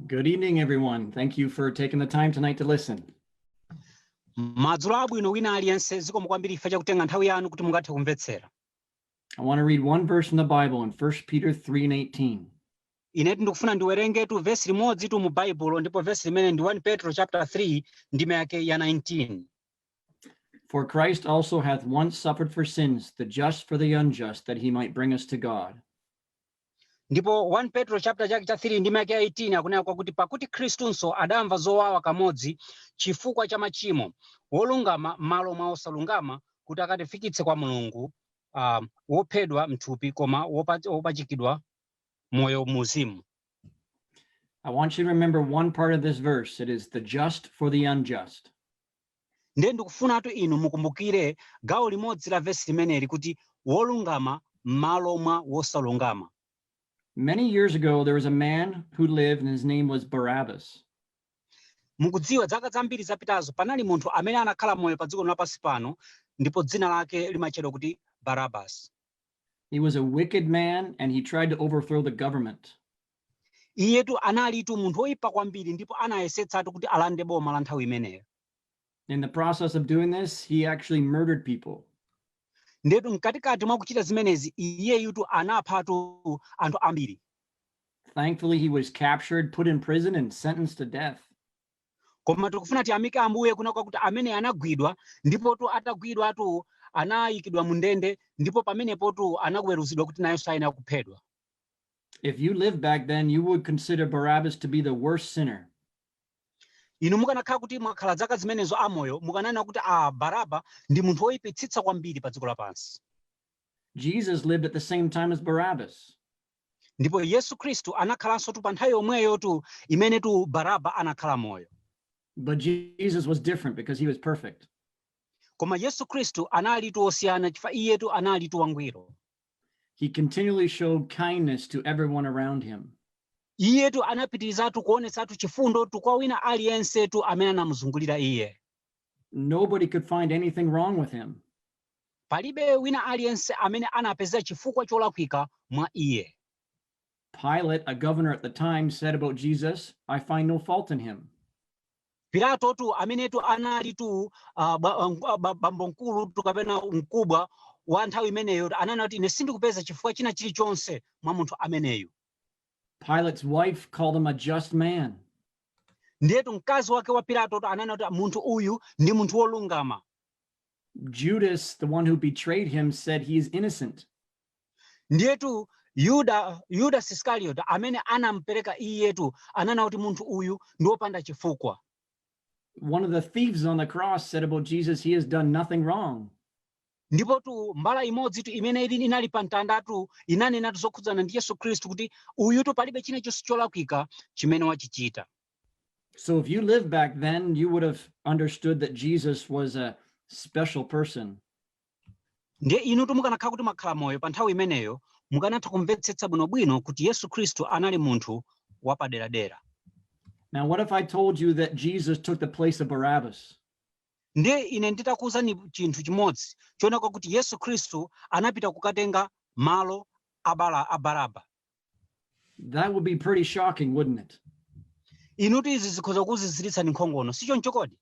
Good evening, everyone. Thank you for taking the time tonight to listen. madzulo abwino wina aliyense zikomo kwambiri chifukwa chakutenga nthawi yanu kuti mungathe kumvetsera I want to read one verse in the Bible in 1 Peter 3 and 18. inetu ndikufuna ndiwerengetu vesi limodzitu mu baibulo ndipo vesi limeneli ndi 1 petro chapter 3 ndime yake ya 19 For Christ also hath once suffered for sins, the just for the unjust, that he might bring us to God. ndipo 1 petro chapter chake cha 3 ndime yake ya 18 akunena kwakuti pakuti khristunso adamva zowawa kamodzi chifukwa cha machimo wolungama m'malo mwa osalungama kuti akatifikitse kwa mulungu uh, wophedwa mthupi koma wopatsidwa moyo mumzimu I want you to remember one part of this verse. It is the just for the unjust. Ndiye ndikufunatu inu mukumbukire gawo limodzi la vesi limeneli kuti, wolungama m'malo mwa wosalungama. Many years ago there was a man who lived and his name was Barabbas. Mukudziwa, dzaka zambiri zapitazo panali munthu amene anakhala moyo pa dziko lapansi pano ndipo dzina lake limatchedwa kuti Barabbas. He was a wicked man and he tried to overthrow the government. iyetu analitu munthu woyipa kwambiri ndipo anayesetsatu kuti alande boma la nthawi imeneyo In the process of doing this, he actually murdered people. ndiyetu mkatikati mwa kuchita zimenezi iyeyutu anaphatu anthu ambiri Thankfully, he was captured, put in prison, and sentenced to death. koma tikufuna tiyamike ambuye kunena kwakuti ameneyu anagwidwa ndipotu atagwidwatu anayikidwa mu ndende ndipo pamenepotu anaweruzidwa kuti nayenso ayenera kuphedwa If you lived back then, you would consider Barabbas to be the worst sinner. inu mukanakhala kuti mwakhala zaka zimenezo amoyo mukananena kuti a baraba ndi munthu woyipitsitsa kwambiri pa dziko lapansi Jesus lived at the same time as Barabbas. ndipo yesu khristu anakhalansotu pa nthawi yomweyotu imenetu baraba anakhala moyo But Jesus was different because he was perfect. koma yesu khristu analitu wosiyana chifukwa iyetu analitu wangwiro He continually showed kindness to everyone around him. iyetu anapitirizatu kuonetsatu chifundotu kwa wina aliyensetu amene anamuzungulira iye Nobody could find anything wrong with him. palibe wina aliyense amene anapeza chifukwa cholakwika mwa iye Pilate, a governor at the time, said about Jesus, I find no fault in him. Pilatotu amenetu analitu uh, ba, uh, ba, bambo mkulutu kapena nkhumbwa wa nthawi imeneyo ananena kuti ine sindikupeza chifukwa china chilichonse mwa munthu ameneyu Pilate's wife called him a just man. ndiyetu mkazi wake wa pilatotu ananena kuti munthu uyu ndi munthu wolungama Judas, the one who betrayed him, said he is innocent. Ndiyetu Yuda, Yudasi Iskarioti amene anampereka iyetu ananena kuti munthu uyu ndi wopanda chifukwa. One of the thieves on the cross said about Jesus, he has done nothing wrong. Ndipotu mbala imodzitu imene ili inali pa mtandatu inanenatu zokhudzana ndi Yesu Khristu kuti uyutu palibe china chonse cholakwika chimene wachichita. So if you lived back then, you would have understood that Jesus was a special person. Ndiye inutu mukanakhala kuti mwakhala moyo pa nthawi imeneyo, mukanatha kumvetsetsa bwinobwino kuti Yesu Khristu anali munthu wapaderadera. Now, what if I told you that Jesus took the place of Barabbas? Ndiye ine nditakuwuzani chinthu chimodzi chonena kuti Yesu Khristu anapita kukatenga malo a Bara- a Baraba. That would be pretty shocking, wouldn't it? Inutu izi zikhoza kukuziziritsani nkhongono, si choncho kodi?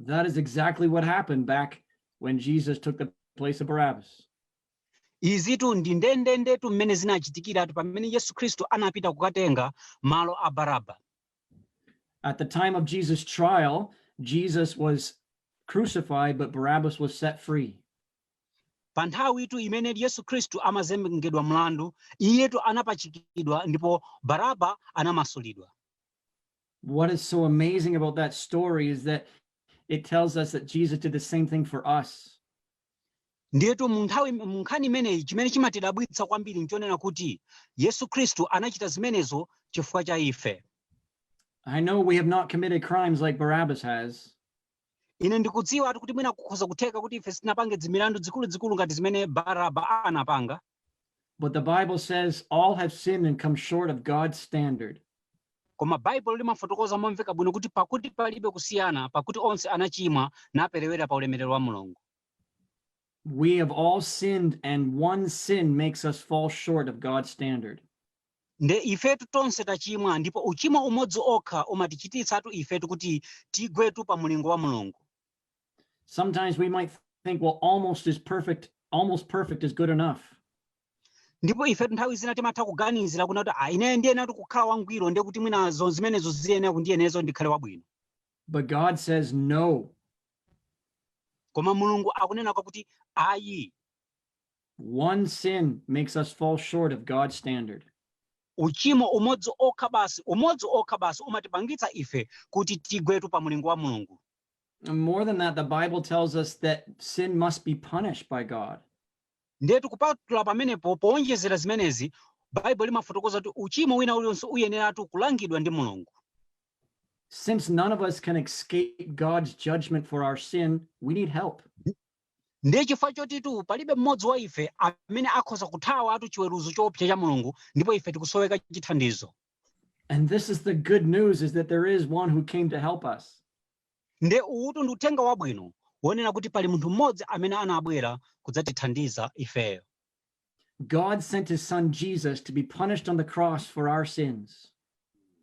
That is exactly what happened back when Jesus took the place of Barabbas. izitu ndi ndendendetu mmene zinachitikiratu pamene yesu khristu anapita kukatenga malo a baraba At the time of Jesus' trial, Jesus was crucified, but Barabbas was set free. pa nthawitu imene yesu khristu amazengedwa mlandu iyetu anapachikidwa ndipo baraba anamasulidwa what is so amazing about that story is that it tells us that Jesus did the same thing for us. ndiyetu mu nthawi mu nkhani imeneyi chimene chimatidabwitsa kwambiri nchonena kuti yesu khristu anachita zimenezo chifukwa cha ife I know we have not committed crimes like Barabbas has, ine ndikudziwatu kuti mwina kukhoza kutheka kuti ife sitinapange dzimilandu dzikuluzikulu ngati zimene baraba anapanga But the Bible says all have sinned and come short of God's standard. koma baibulo limafotokoza momveka bwino kuti pakuti palibe kusiyana pakuti onse anachimwa naperewera pa ulemerero wa mulungu We have all sinned, and one sin makes us fall short of God's standard. Nde ifetu tonse tachimwa ndipo uchimo umodzi okha umatichititsatu ifetu kuti tigwetu pa mulingo wa Mulungu. Sometimes we might think well almost is perfect, almost perfect is good enough. Ndipo ifetu nthawi zina timatha kuganizira kunena kuti ah ine ndiyeneratu kukhala wangwiro nde kuti mwina zonse zimenezo ziyenera kundiyenereza ndikhale wabwino. But God says no. Koma Mulungu akunena kuti ayi. One sin makes us fall short of God's standard. Uchimo umodzi okha basi, umodzi okha basi umatipangitsa ife kuti tigwetu pa mulingo wa Mulungu. And more than that, the Bible tells us that sin must be punished by God. Ndetu kupatula pamenepo powonjezera zimenezi, Baibulo limafotokoza kuti uchimo wina ulionse uyeneratu kulangidwa ndi Mulungu. Since none of us can escape God's judgment for our sin, we need help. Ndiye chifukwa chotitu palibe mmodzi wa ife amene akhoza kuthawatu chiweruzo choopsa cha Mulungu, ndipo ife tikusoweka chithandizo. And this is the good news is that there is one who came to help us. Nde uwutu ndi uthenga wabwino wonena kuti pali munthu mmodzi amene anabwera kudzatithandiza ifeyo. God sent his son Jesus to be punished on the cross for our sins.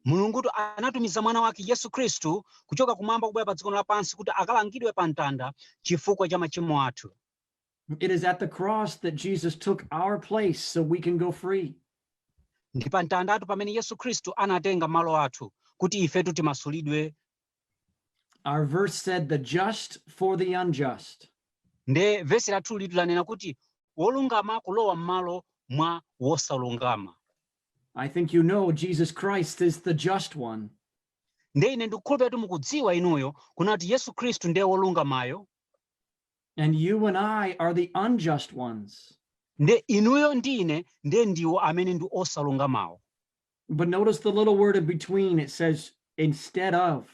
mulungutu anatumiza mwana wake yesu khristu kuchoka kumwamba kubwera pa dziko lino lapansi kuti akalangidwe pa mtanda chifukwa cha machimo athu It is at the cross that Jesus took our place so we can go free. ndi pa mtandatu pamene yesu khristu anatenga malo athu kuti ifetu timasulidwe Our verse said, the just for the unjust. nde vesi lathulitu lanena kuti wolungama kulowa m'malo mwa wosalungama I think you know Jesus Christ is the just one. nde ine ndikukhulupirira kuti mukudziwa inuyo kunena kuti yesu khristu ndiye wolungamayo And you and I are the unjust ones. nde inuyo ndi ine ndiye ndiwo amene ndi osalungamawo But notice the little word in between, it says instead of.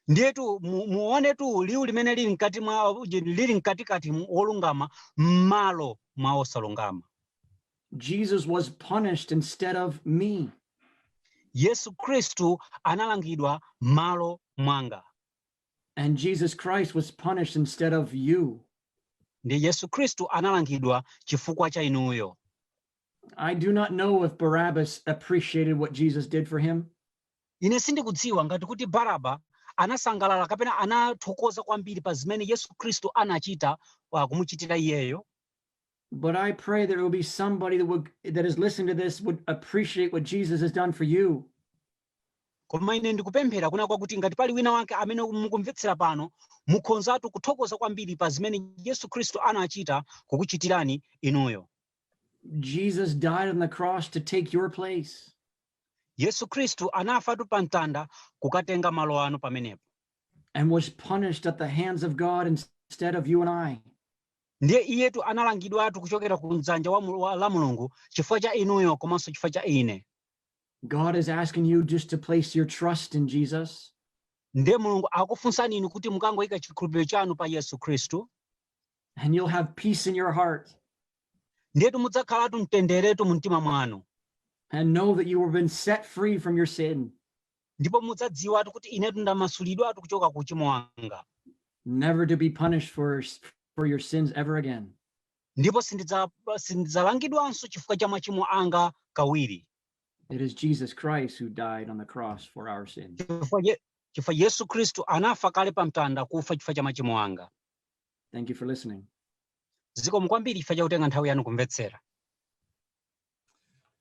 ndiyetu mu- muonetu liwu limene lili mkati mwa uji- lili mkatikati mu- wolungama m'malo mwa osalungama Jesus was punished instead of me. yesu khristu analangidwa m'malo mwanga And Jesus Christ was punished instead of you. nde yesu khristu analangidwa chifukwa cha inuyo I do not know if Barabbas appreciated what Jesus did for him. Ine sindikudziwa ngati kuti Baraba anasangalala kapena anathokoza kwambiri pa zimene Yesu Kristu anachita uh, kumuchitira iyeyo. But I pray there will be somebody that would that is listening to this would appreciate what Jesus has done for you. Koma ine ndikupemphera kunena kwakuti ngati pali wina wake amene mukumvetsera pano mukhonzatu kuthokoza kwambiri pa zimene Yesu Kristu anachita kukuchitirani inuyo. Jesus died on the cross to take your place. Yesu Kristu anafatu pa mtanda kukatenga malo anu pamenepo. And was punished at the hands of God instead of you and I. Ndiye iyetu analangidwatu kuchokera ku mdzanja la Mulungu chifukwa cha inuyo komanso chifukwa cha ine. God is asking you just to place your trust in Jesus. Ndiye Mulungu akukufunsani inu kuti mukangoyika chikhulupiriro chanu pa Yesu Kristu. And you'll have peace in your heart. Ndiyetu mudzakhalatu mtenderotu mu mtima mwanu. And know that you have been set free from your sin. Ndipo mudzadziwatu kuti inetu ndamasulidwatu kuchoka ku uchimo wanga. Never to be punished for, for your sins ever again. Ndipo sindidzalangidwanso chifukwa cha machimo anga kawiri. It is Jesus Christ who died on the cross for our sins. Chifukwa Yesu Kristu anafa kale pa mtanda kufa chifukwa cha machimo anga. Thank you for listening. zikomo kwambiri chifukwa chakutenga nthawi yanu kumvetsera